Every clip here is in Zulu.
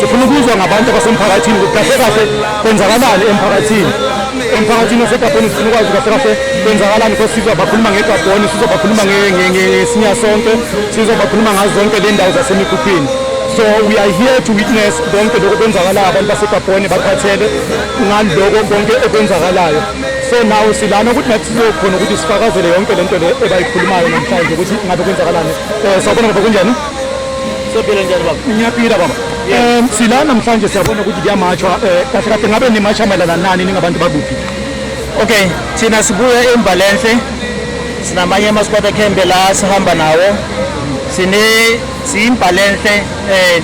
sifuna ukuzwa ngabantu abasemphakathini ukuthi kahle kahle kwenzakalani emphakathini emphakathini wasegabheni sifuna ukwazi kahle kahle kwenzakalani because sizobakhuluma ngegabhoni sizobakhuluma ngesinya sonke sizobakhuluma ngazo zonke le ndawo zasemikhuphini so we are here to witness konke lokho kwenzakalayo abantu basegabhoni bakhathele ngaloko konke okwenzakalayo so nawo silana ukuthi nathi sizokhona ukuthi sifakazele yonke le nto le ebayikhulumayo namhlanje ukuthi ngabe kwenzakalani um sawubona ngoba kunjani sophila njani baba ngiyaphila baba um sila namhlanje siyabona ukuthi kuyamatshwa um eh, kahle kahle ngabe nimatsha mayelana nani ningabantu bakuphi okay thina sibuya embalenhle sinamanye amasquata cambe la sihamba nawo sine siyimbalenhle um eh,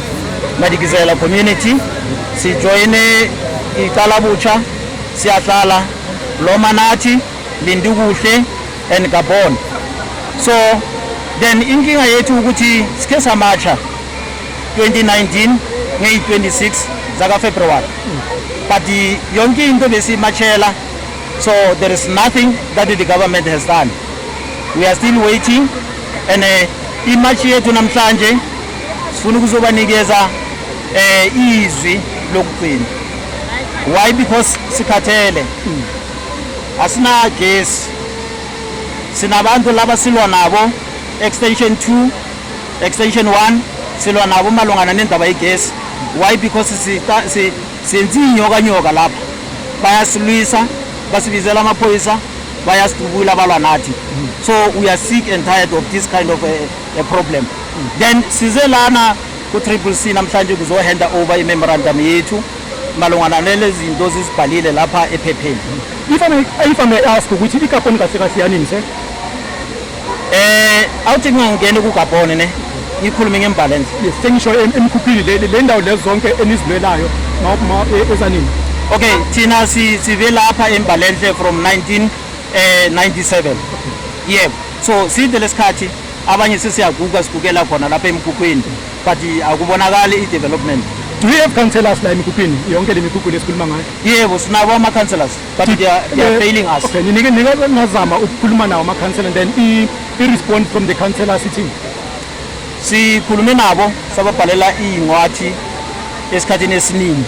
madikizela community sijoyine icala butsha siyahlala loma nathi lindukuhle and Gabon so then inkinga yethu ukuthi sikhe samatsha 2019 ngeyi-26 zakafebruwari but yonke into besiyimatshela so there is nothing that the government has done we are still waiting and uh, eh, imatshi yethu namhlanje sifuna ukuzobanikeza um izwi lokugcina why because sikhathele mm. asinagesi sinabantu laba silwa nabo extension 2 extension 1 silwa nabo malungana nendaba yegesi why because senze inyokanyoka lapha bayasilwisa basibizela amaphoyisa bayasidubula balwa nathi so we are sick and tired of this kind of a, a problem then size lana ku-triple c namhlanje kuzohanda over i-memorandum yethu malungana nalezi zinto zizibhalile lapha ephepheni if I may, if I may ask ukuthi ikaponi kahle kahle yanini se eh awuthi ngingangena kugabhone ne ngikhulume ngembalance yes sengisho em- emkhuphini le le ndawo lezi zonke enizilwelayo ma- ma- e- ezanini okay thina si- sive lapha embalenhle from 1997 yebo so side lesikhathi abanye sesiyaguga sigukela khona lapha emkhukhwini but akubonakali i-development do you have councillors la emikhukhwini yonke le mikhukhu lesikhuluma ngayo yebo sinabo ama-councillors but they are, they are eh, failing us okay ninike ninike ngazama ukukhuluma nawo ama-councillor then i-respond from the councillor sithini sikhulume nabo sababhalela iy'ncwathi esikhathini esiningi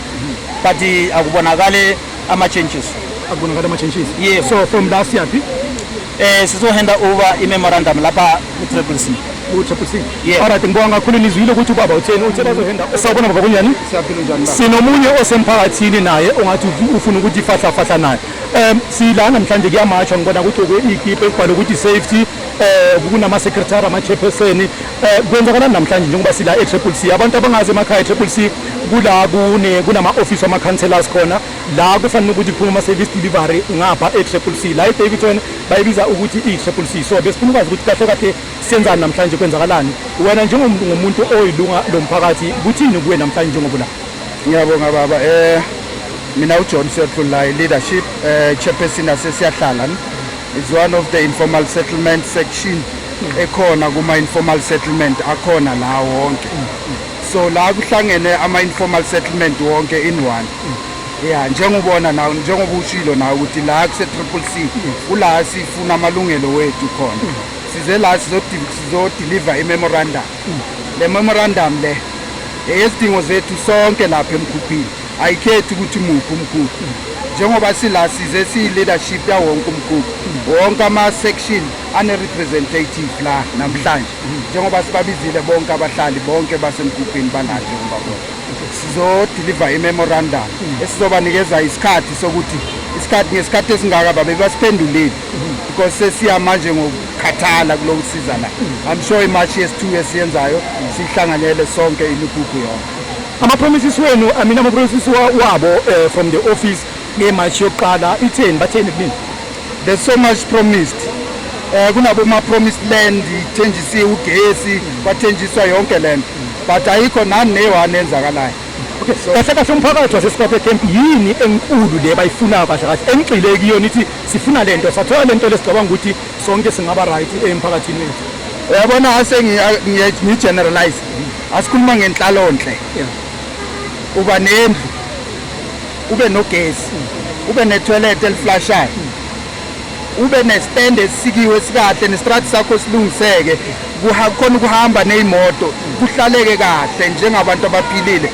but akubonakale ama-changes akubonakale ama-changes yes so from la siyaphi Eh sizohenda over i-memorandum lapha ku-triple C. Ku-triple C? Yeah. Alright ngibonga kakhulu nizwile ukuthi ubaba utheni uthe bazohenda. Sawubona baba kunjani? Siyaphila njani baba? Sinomunye osemphakathini naye ongathi ufuna ukuthi fahla fahla naye. Um sila namhlanje kuyamatshwa ngibona ukuthi okwe-ikipe kubhalwe ukuthi safety eh kunama-secretary ama-chairperson eh kwenzakalani namhlanje njengoba sila e-triple c abantu abangazi emakhaya e-triple c kula kunama-ofisi wama-councellors khona la kufanele ukuthi kuphume ama-service delivery ngapha e-triple c la e-davidson bayibiza ukuthi i-triple c so besifuna ukwazi ukuthi kahle kahle senzani namhlanje kwenzakalani wena njengomuntu oyilunga lo mphakathi kuthini kuwe namhlanje njengoba la ngiyabonga baba um mina ujohn siyohlulayi leadership um eh, chairperson asesiyahlala is one of the informal settlement section ekhona kuma-informal settlement akhona la wonke so la kuhlangene ama-informal settlement wonke in one ya njengobona nawe njengoba ushilo nawe ukuthi la kuse-triple c kula sifuna amalungelo wethu khona size la sizodeliver i-memorandum le memorandum le eyezidingo zethu sonke lapha emkhuphini ayikhethi ukuthi muphi umkhukhu njengoba sila size siyi-leadership yawonke umkhukhu wonke ama-section ane-representative la namhlanje njengoba sibabizile bonke abahlali bonke basemgubhini bananje umbabona sizodiliva imemorandum esizobanikeza isikhathi sokuthi isikhathi ngesikhathi esingaka babe basiphendulile because sesiya manje ngokukhathala kulo kusiza la i'm sure imashi yesithu esiyenzayo sihlanganyele sonke imigugu yonke amapromises wenu i mean amapromises wabo eh, from the office ngemashi yokuqala itheni batheni kunini There's so much promised. Eh kunabo ma promised land ithenjisiwe ugesi kwathenjiswa yonke lento but ayikho nani neyohane enzakalayo. Okay, so kahle kahle umphakathi waseSikwaphe camp yini enkulu le bayifunayo kahle kahle engigxile kuyona ithi sifuna lento sathola lento lesigcabanga ukuthi sonke singaba right emphakathini wethu. Uyabona ase ngi generalize asikhuluma ngenhlalonhle. Yeah. Uba nendlu kube nogesi kube netoilet eliflashayo ube nestand esikiwe esikahle nestrati sakho silungiseke kukhona ukuhamba neyimoto kuhlaleke kahle njengabantu abaphilile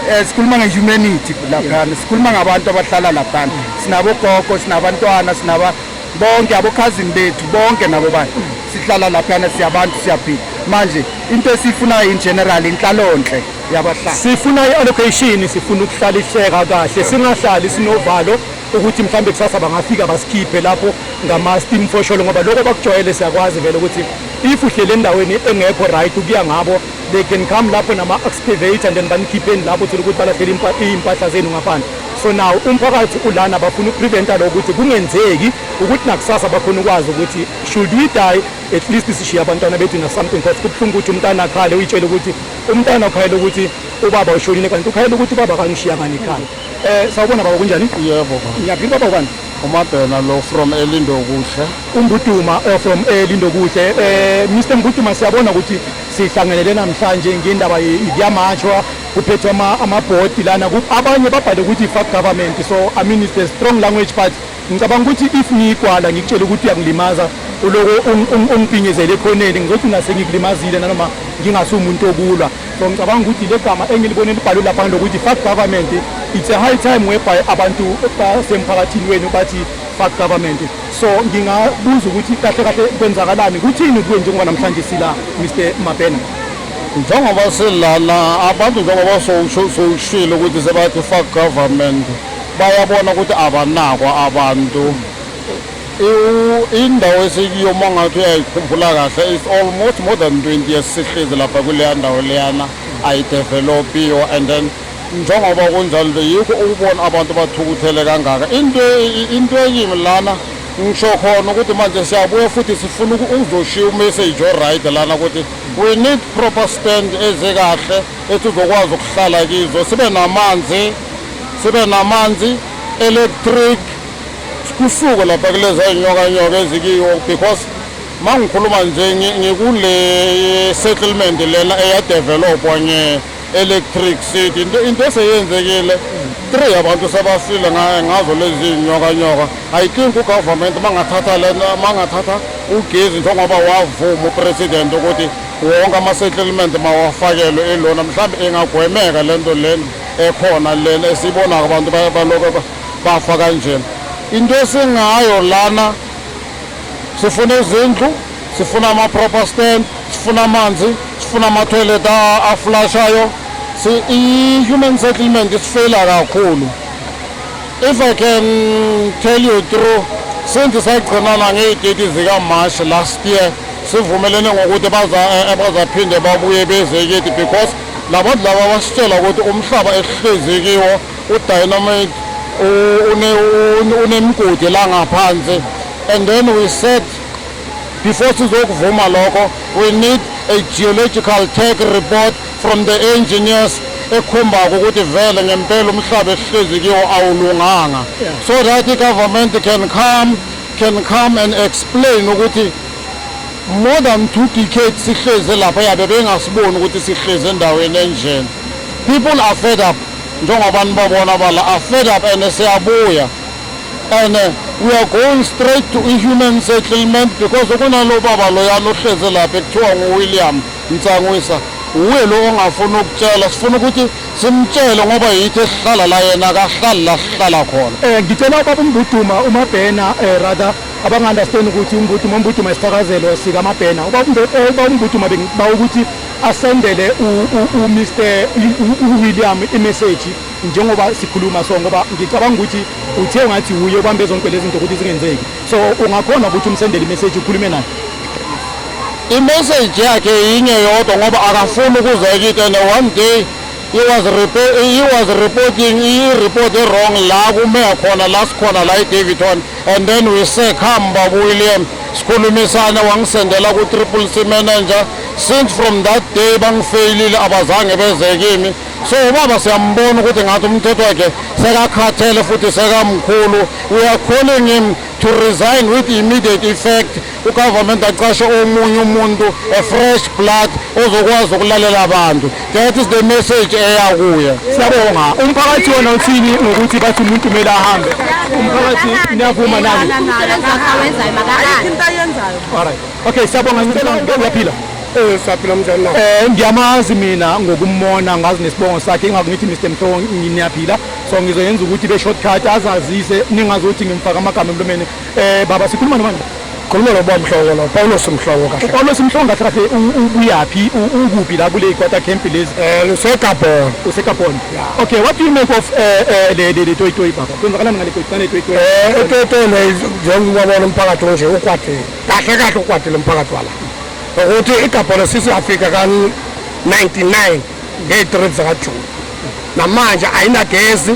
eh, sikhuluma ngehumanity laphana sikhuluma ngabantu abahlala laphana sinabogogo sinabantwana sinaba bonke abokhazini bethu bonke nabo bantu sihlala laphana siyabantu siyaphila manje into esiyifunayo in general inhlalonhle yabahlali sifuna i-allocation sifuna ukuhlaliseka kahle singahlali sinovalo ukuthi mhlawumbe kusasa bangafika basikhiphe lapho ngama-steam fosholo ngoba lokho bakujwayele siyakwazi vele ukuthi if uhlele endaweni engekho right ukuya ngabo they can come lapho nama-excavator and then banikhipheni lapho uthole ukuthi balahlele iy'mpahla zenu ngaphandle so now umphakathi ulana bafuna ukupreventa lo ukuthi kungenzeki ukuthi nakusasa bakhona ukwazi ukuthi should we die at least sishiye abantwana bedinga something because kubuhlungu ukuthi umntana akhale uyitshele ukuthi umntana ukhayela ukuthi ubaba ushonile kanti ukhayela ukuthi ubaba kangishiya ngani ekhaya um sawubona baba kunjani yebo ngiyaphila baba ubani umabhena lo from elindokuhle umbuduma eh, from elindokuhle um eh, mr mbuduma siyabona ukuthi sihlangenele namhlanje ngendaba kuyamashwa kuphethwe amabhodi lana abanye babhale ukuthi fuck government so i mean it's a strong language but Ngicabanga ukuthi if ngiyikwala ngikutshela ukuthi uyangilimaza uloko ungiphinyezele ekhoneni ngizothi ngase ngikulimazile nanoma ngingasumuntu okulwa so ngicabanga ukuthi le gama engilibone libhalwe lapha ngilokuthi fuck government it's a high time whereby abantu basemphakathini wenu bathi fuck government so ngingabuza ukuthi kahle kahle kwenzakalani kuthini kuwe njengoba namhlanje sila Mr Mabena njengoba silana abantu njengoba sowushilo ukuthi sebathi fuck government bayabona ukuthi abanakwa abantu indawo esikuyo uma ngathi uyayikhumbula kahle is almost more than 20 years sihlezi lapha kuleya ndawo leyana ayidevelopiyo and then njengoba kunjalo nje yikho ukubona abantu bathukuthele kangaka into into ekimi lana ngisho khona ukuthi manje siyabuya futhi sifuna ukuzoshiya umessage oright lana ukuthi we need proper stand ezekahle ethi uzokwazi ukuhlala kizo sibe namanzi sibe namanzi electric kusuke lapha kuleza inyokanyoka ezikiwo because mangikhuluma nje ngikule settlement lena eyadevelopwa nge electric city into eseyenzekile three abantu sebasile ngazo lezi nyokanyoka i think ugovernment mangathatha lena mangathatha ugezi njengoba wavuma upresident ukuthi wonke ama-settlement mawafakelwe ilona mhlawumbe ingagwemeka lento lena ekhona lena esibona abantu baloko bafa kanjena into esingayo lana sifuna izindlu sifuna ama-proper stand sifuna amanzi sifuna ama-toilet aflashayo i-human settlement isifeyila kakhulu if i can tell you through since sagcinana ngey'teti zikamarch last year sivumelene ngokuthi eh, bazaphinde babuye bezeketi because Labantu laba basitshela ukuthi umhlaba esihlezi kiwo udynamite unemigodi la ngaphansi and then we said before sizokuvuma lokho we need a geological tech report from the engineers ekhombako ukuthi vele ngempela umhlaba esihlezi kiwo awulunganga so that i-government can come can come and explain ukuthi More than two decades sihleze lapha yabe bengasiboni ukuthi sihleze endaweni enjena. People are fed up njengoba nibabona bala are fed up and siyabuya and uh, we are going straight to i-human settlement because kunalo baba loyana ohleze lapha ekuthiwa nguwilliam nsangwisa wuye lo ongafuni ukutshela sifuna ukuthi simtshele ngoba yithi esihlala la yena akahlali la sihlala khona um ngicela ubaba umbuduma umabhena um rather abangaunderstand ukuthi umbutuma umbutuma isithakazelo sikamabhena eh, uba umbutuma bengiba ukuthi asendele umr uwilliam imeseji njengoba sikhuluma so ngoba ngicabanga ukuthi uthe ungathi wuye ubambe zonke lezi zinto ukuthi zingenzeki so ungakhona ukuthi umsendele imeseji ukhulume naye imeseji yakhe yinye yodwa ngoba akafuni ukuzeka into ene one day He was report, he was reporting i report wrong la kumeya khona la sikhona la eDavidton and then we say come Babu William sikhulumisane wangisendela ku triple C manager since from that day bangifailile abazange beze kimi so ubaba siyambona ukuthi ngathi umthetho wakhe sekakhathele futhi sekamkhulu we are calling him to resign with immediate effect ugovernment aqashe omunye umuntu a fresh blood ozokwazi ukulalela abantu that is the message eya kuye siyabonga umphakathi wona uthini ngokuthi bathi umuntu kumele ahambe umphakathi niyavuma nani okay siyabonga ngiyaphila Eh saphila mnjani na? Eh ngiyamazi mina ngokumona ngazi nesibongo sakhe ingakho ngithi Mr Mhlongo nginiyaphila so ngizoyenza ukuthi be shortcut azazise ningazothi ngimfaka amagama emlomeni Eh baba sikhuluma nobani? Khuluma noba mhlobo lo Paulos mhlobo kahle. UPaulos mhlobo kahle kahle ubuyaphi ukuphi la kule quarter camp lezi? Eh useGabon. UseGabon. Okay, what do you make of eh, eh le le toy toy baba? Kwenzakalani ngale toy toy toy? Eh toy toy le njengoba bona umphakathi onje ukwade. Kahle kahle ukwade lomphakathi wala. Ukuthi iGabon sisi Africa kan 99 ngey 3 zaka June. Namanje ayinagezi.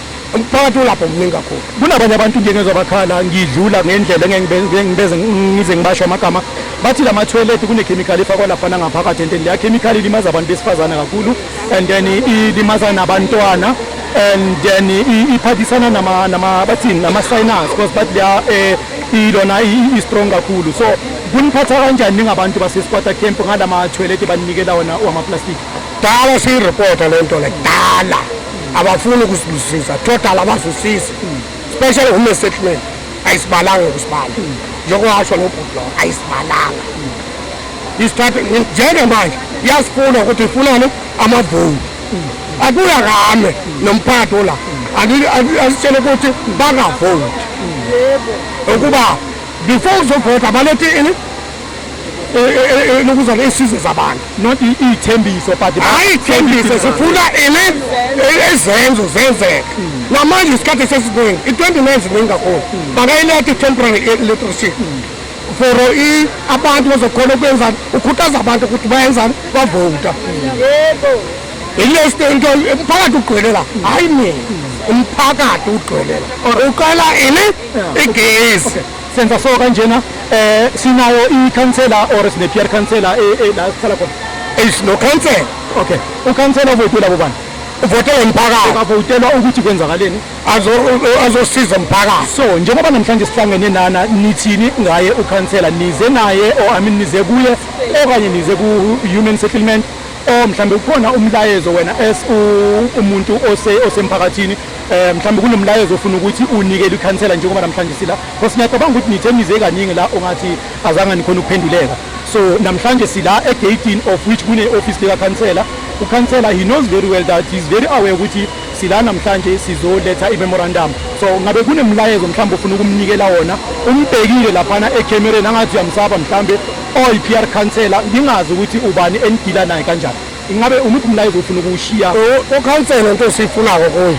umphakathi ulapho mningi kakhulu kunabanye abantu nje ngezwa bakhala ngidlula ngendlela engengibeze ngize ngibasho amagama bathi la mathoyilethi kunekhemikhali efakwa lapha nangaphakathi and then leya khemikhali ilimaza abantu besifazane kakhulu and then ilimaza nabantwana and then iphathisana nama nama bathini nama signals because bathi leya eh ilona i strong kakhulu so kuniphatha kanjani ningabantu basesikwata camp ngalama toilet baninikela wona wama plastic Dala siyireporta le nto le dala abafuni ukusibusisa total abasisisi special home settlement ayisibalanga ukusibala njengokwasho nobhuti lowo ayisibalanga isithathe njengamanje iyasifuna ukuthi ifunani amavoti akuya kame nomphathi ola asitshele ukuthi bangavoti ukuba before uzovota balethe ini lokuzwa ley'sizo zabantu not iy'thembiso but hhayi ithembiso sifuna ile ezenzo zenzeka namanje isikhathi sesiningi i-29 ziningi kakhulu bangayiletha i-temporary electricity for abantu bazokhona ukwenzani ukhuthaza abantu ukuthi bayenzani bavota ilesi into umphakathi ugcwele la hhayi mina umphakathi ugcwele la uqala ini igesi senza so kanjena eh sinayo ikhansela or sine peer counselor eh, eh, la sihlala khona eish no cancel okay ukhansela uvotela bobani uvotela umphakathi ukavotelwa ukuthi kwenzakaleni azosiza umphakathi so njengoba namhlanje sihlangene nana nithini ngaye ukhansela nize naye or i mean nize kuye okanye nize ku-human settlement or mhlawumbe ukhona umlayezo wena as umuntu osemphakathini eh mhlawumbe kunomlayezo ofuna ukuthi unikele ikhansela njengoba namhlanje sila because ngiyacabanga ukuthi nithe nize kaningi la ongathi azange nikhona ukuphenduleka so namhlanje sila egatini of which kune-ofisi likakhansela ukhansela he knows very well that he's very aware ukuthi sila namhlanje sizoletha i-memorandum so ngabe kunemlayezo mhlawumbe ofuna ukumnikela wona umbhekile laphana ekhemereni angathi uyamsaba mhlawumbe oyi-p r khansela ngingazi ukuthi ubani enigila naye kanjani Ingabe umuphi umlayezo ofuna ukuwushiya kokhansela into esiyifunako kuye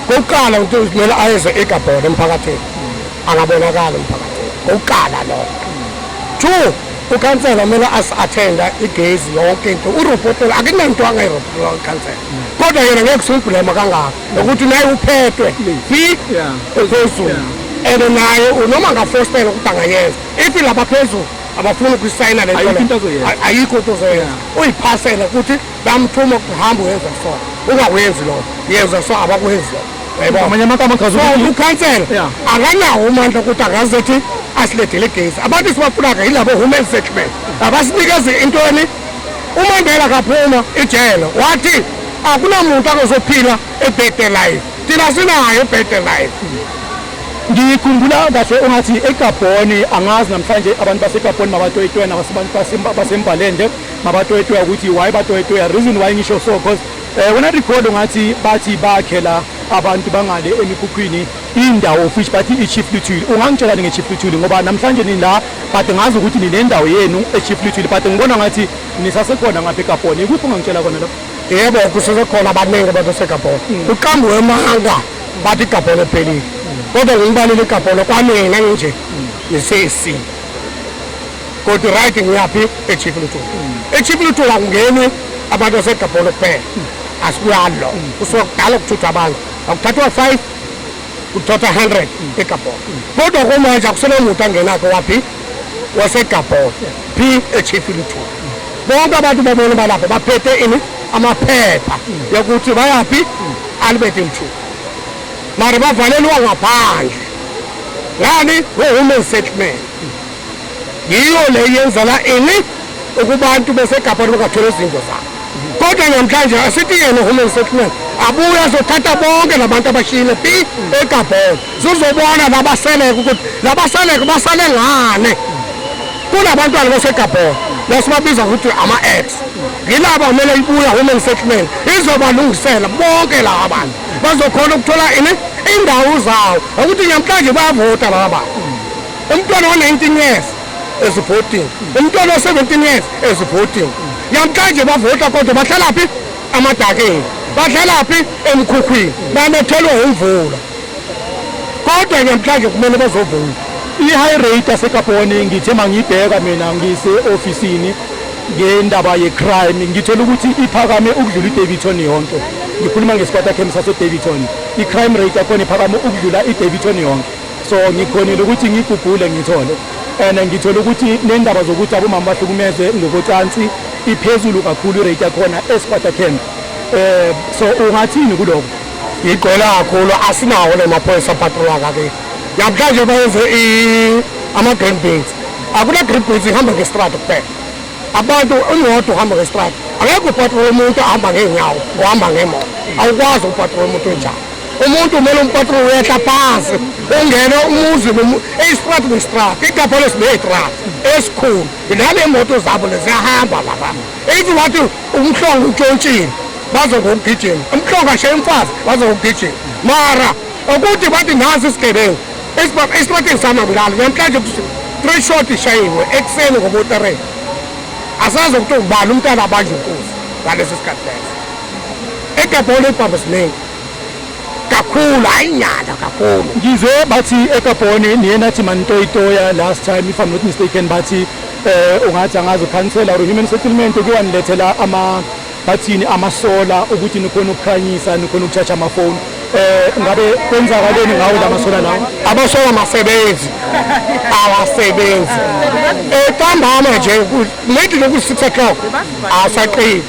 kokuqala ukuthi kumele ayeze egabhona emphakathini angabonakala emphakathini kokuqala lokho two ukhansela kumele asi-athenda igezi yonke into urobotela akunanto angayirobotela ukhansela kodwa yena ngeke simbhulema kangako nokuthi naye uphethwe fi ephezulu and naye unoma ngafostela ukuthi angayenza if laba phezulu abafuni ukuyisayina le ayikho into ozoyenza uyiphasela ukuthi bamthuma kuhamba uyenza so ungawenzi lokho yenza so abakwenzi lokho amanye amagama achaza ukhansela akanawo umandla ukuthi angazethi asilethele igezi abantu sibafunaka yilabo human settlement abasinikeze intoni umandela akaphuma ijele wathi akunamuntu akozophila ebhede life thina sinayo ebhede life Ngikhumbula kahle ungathi eGabhoni angazi namhlanje abantu baseGabhoni mabatoyitoya nabasembalende mabatoyitoya ukuthi why batoyitoya reason why ngisho so because eh, wena record ungathi bathi bakhe la abantu bangale emikhukhwini indawo fish bathi i-chief luthuli ungangitshelani nge-chief luthuli ngoba namhlanje nini la but ngazi ukuthi ninendawo yenu e-chief luthuli but ngibona ngathi nisasekhona ngapha egabhoni ikuphi ungangitshela khona lapho yebo kusesekhona abaningi abantu basegabhoni kuqambiwe emanga bathi igabholo ephelile kodwa ngilibalile igabholo kwamina nginje ngisesi kodwa right ngiyaphi echief luthu echief luthu akungeni abantu asegabholo kuphela asibuyalo kusuka kudala ukuthuthwa abantu akuthathwa five kuthatha hundred egabholo kodwa kumanje akusenemuntu angenakho waphi wasegabholo phi echief luthu bonke abantu babona balapho baphethe ini amaphepha yokuthi bayaphi Albert Mthuku mara bavalelwa ngaphandle ngani ngo-human settlement yiyo le yenza la ini ukubantu besegabhani bangathola izinto zabo kodwa namhlanje asithi yena human settlement abuye azothatha bonke labantu abashiyile pi egabheni sizobona nabaseleke ukuthi nabaseleke basale ngane kunabantwana basegabhona lasibabiza ukuthi ama-ex ngilaba kumele ibuya human settlement izobalungisela bonke laba bantu bazokhona ukuthola ini indawo zawo ukuthi namhlanje bayavota laba bantu umntwana wa-19 years ezivotini umntwana wa-17 years ezivotini namhlanje bavota kodwa bahlalaphi amadakeni bahlalaphi emkhukhwini banethelwe umvula kodwa ke mhlanje kumele bazovuna i-high rate yasekabhone ngithe mangiyibheka mina ngise-ofisini ngendaba ye-crime ngithola ukuthi iphakame ukudlula i-daviton yonke ngikhuluma ngesipatakhemi sase-daviton i-crime rate yakhona iphakame ukudlula i-daviton yonke so ngikhonile ukuthi ngigugule ngithole and ngithole ukuthi nendaba zokuthi abomama bahlukumeze ngokocansi iphezulu kakhulu irate yakhona esipatakhemi um eh, so ungathini kuloko Igcwele kakhulu asinawo namaphoyisa patrola kake. Namhlanje bayenze ama-green beans. Akuna-green beans ihamba ngestrada kuphela. Abantu imoto uhamba ngestrada. Angeke upatrola umuntu ahamba ngeenyawo, uhamba ngemoto. Awukwazi upatrola umuntu onjalo. Umuntu kumele umpatrola uyehla phansi, ungene umuzi eyistrada nestrada, igabholo sineyitrada esikhulu. Nale moto zabo leziyahamba lapha. If you want to umhlongo utshontshile bazokugijima umhlongo ashaye umfazi bazokugijima mara okude bathi nazi isigebengu esibathe samabulali namhlanje three shot ishayiwe ekuseni ngobotereni asazi ukuthi ubani umntana abanje inkosi ngaleso sikhathi leso egabholo ibhambo siningi kakhulu hayi nyala kakhulu ngizwe bathi egabhoni niye nathi manitoyitoya last time if i'm not mistaken bathi Eh ungathi angazi ukhansela or human settlement kuwanilethela ama bathini amasola ukuthi nikhona ukukhanyisa nikhona ukuchacha amafoni eh ngabe kwenzakaleni ngawo lamasola lawo abasola masebenzi awasebenzi eqambama eh, nje late loku 6 o'clock asaqini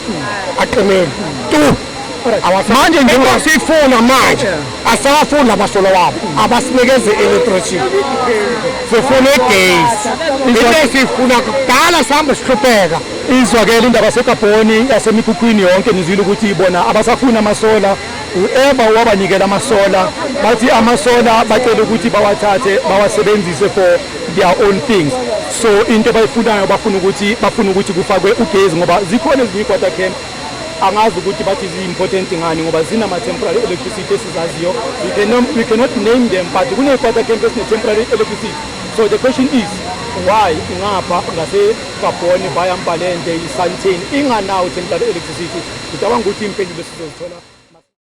aqinile tu manje njengoba siyifuna manje asawafuni labasolo wabo abasinikeze electricity sifuna igesi into esiyifuna kudala sihambe sihlupheka izwakele indaba segabhoni yasemikhukhwini yonke nizwile ukuthi bona abasafuni amasola whoever owabanikela amasola bathi amasola bacele ukuthi bawathathe bawasebenzise for their own things so into abayifunayo bafuna ukuthi bafuna ukuthi kufakwe ugezi ngoba zikhona ezinye i-quarter camp angazi ukuthi bathi zi-important ngani ngoba zinama-temporary electricity esizaziyo we cannot, we cannot name them but kuney'pata camp esine-temporary electricity so the question is why ingapha ngasegabhoni via mbalende isantin inganawo temporary electricity ngicabanga ukuthi impendulo sizozithola